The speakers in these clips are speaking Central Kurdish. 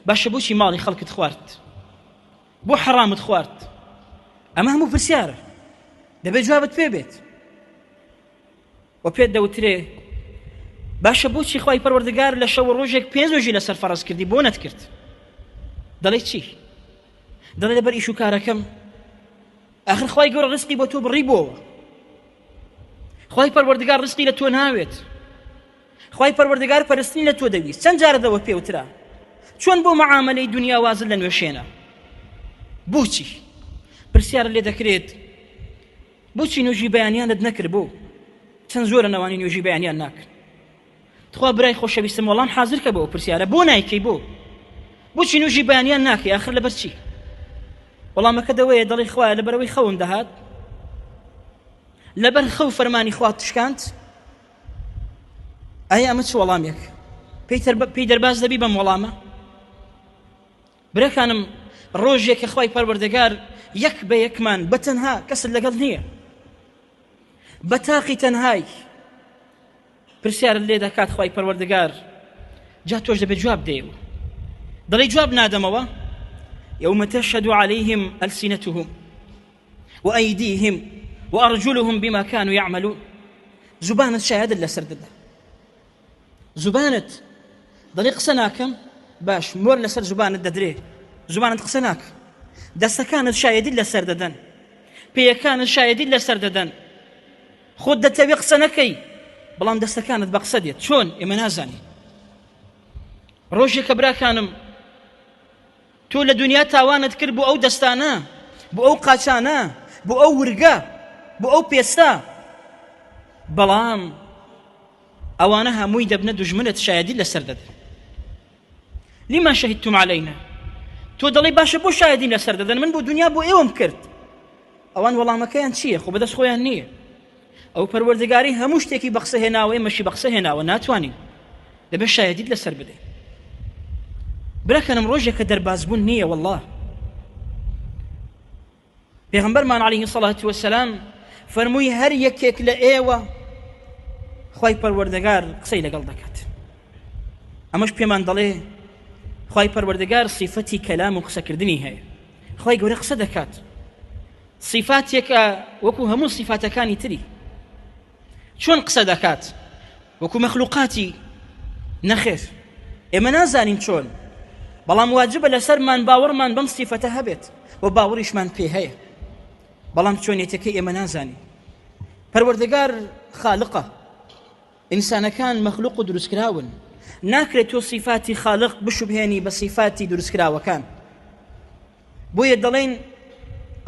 باشە بۆچی ماڵی خەڵکت خوارد بۆ حەڕامت خوارد ئەمە هەموو پرسیارە دەبێت جوابت پێ بێت و پێت دەوترێ باشە بۆچی خی پەروەردگار لە شەوە ڕۆژێک پێنجژی لەسەر فەرز کردی بۆ نەتکرد دەڵێ چی دەڵێ لەبەر ئیش و کارەکەم ئەخر خی گەۆر ڕستی بۆ تۆ بڕی بۆەوە خی پەروەردگار ڕستی لە تۆ ناوێت خوای پەروەردگار پەرستنی لە تۆ دەویست چەند جارە دەوە پێوترا چۆن بۆ مەعاملەی دنیا وازت لە نوێشێنە بۆچی پرسیار لێ دەکرێت بۆچی نوێژی بەیانیانت نەکرد بۆ چەند زۆرە نەوانی نوێژی بەیانیان ناکرد تخوا برای خۆشەویستم وەڵام حاضر کە بەوە پرسیارە بۆ نایکەی بۆ بۆچی نوێژی بەیانیان ناکەی آخر لەبەر چی وەڵامەکە دەوەیە دەڵی خوایە لەبەرەوەی خەوم دەهات لەبەر خەو فەرمانی خوات تشکاند ئایا ئەمە چ وەڵامێک پێی دەرباز دەبی بەم وەڵامە برەکانم ڕۆژێک کە خی پەروەردەگار یەک بە یەکمان بە تەنها کەست لەگەڵ نییە بە تاقی تەنهایک پرسیار لێ دەکات خی پەروەردەگار جا تۆش دەبێت جواب دێو دەڵی جواب نادەمەوە یومە تەشهد عليهلسینەتهم وأيديهم وأرجلهم بما كانوا يعملون زبانت شاهد لسر ددا زبانت دەڵێ قسە ناکەم باش مۆر لەسەر زبانت دەدرێ زبانت قسە ناک دەستەکانت شایدی لەسەر دەدەن پێیەکانت شایدی لەسەر دەدەن خۆت دەتەوێ قسە نەکەی بەڵام دەستەکانت بە قسە دێت چۆن ئێمە نازانین ڕۆژێکە براکانم تۆ لە دونیا تاوانت کرد بۆ ئەو دەستانە بۆ ئەو قاچانە بۆ ئەو ورگە بۆ ئەو پێستە بەڵام ئەوانە هەمووی دەبنە دژمنت شایدی لەسەر دەدەن لما شهدتم علينا تۆ دەڵی باشە بۆ شایدیم لەسەر دەدەن من بۆ دنیا بۆ ئێوەم کرد ئەوان وەڵامەکەیان چییە خۆ بەدەست خۆیان نییە ئەو پەروەردگاری هەموو شتێکی بە قسە هێناوە ئێمەشی بە قسە هێناوە ناتوانین دەبێت شایدیت لەسەر بدەین براکەنم ڕۆژێک کە دەربازبوون نییە والله پێغمبەرمان عليه سەڵات وسلام فەرمووی هەر یەکێک لە ئێوە خی پەروەردەگار قسەی لەگەڵ دەکات ئەمەش پێمان دەڵێ خی پەروەردەگار سیفەتی کەلام و قسەکردنی هەیە خی گەورە قسە دەکات سیفاتێکە وەکو هەموو سیفاتەکانی تری چۆن قسە دەکات وەکو مەخلوقاتی نەخێر ئێمە نازانین چۆن بەڵام واجبە لەسەرمان باوەڕمان بەم سیفەتە هەبێت و باوەڕیشمان پێ هەیە بەڵام چۆنێتەکەی ئێمە نازانین پەروەردەگار خالقە ئینسانەکان مەخلوق و دروستکراون ناکرێت تۆ سیفاتی خالق بشوبهێنی بە سیفاتی دروستکراوەکان بۆیە دەڵێین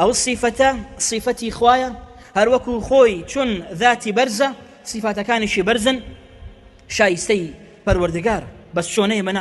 ئەو سیفەتە سیفەتی خوایە هەروەکو خۆی چون ذاتی بەرزە سیفاتەکانیشی بەرزن شایستەی پەروەردگار بەس چۆنەیە مەناس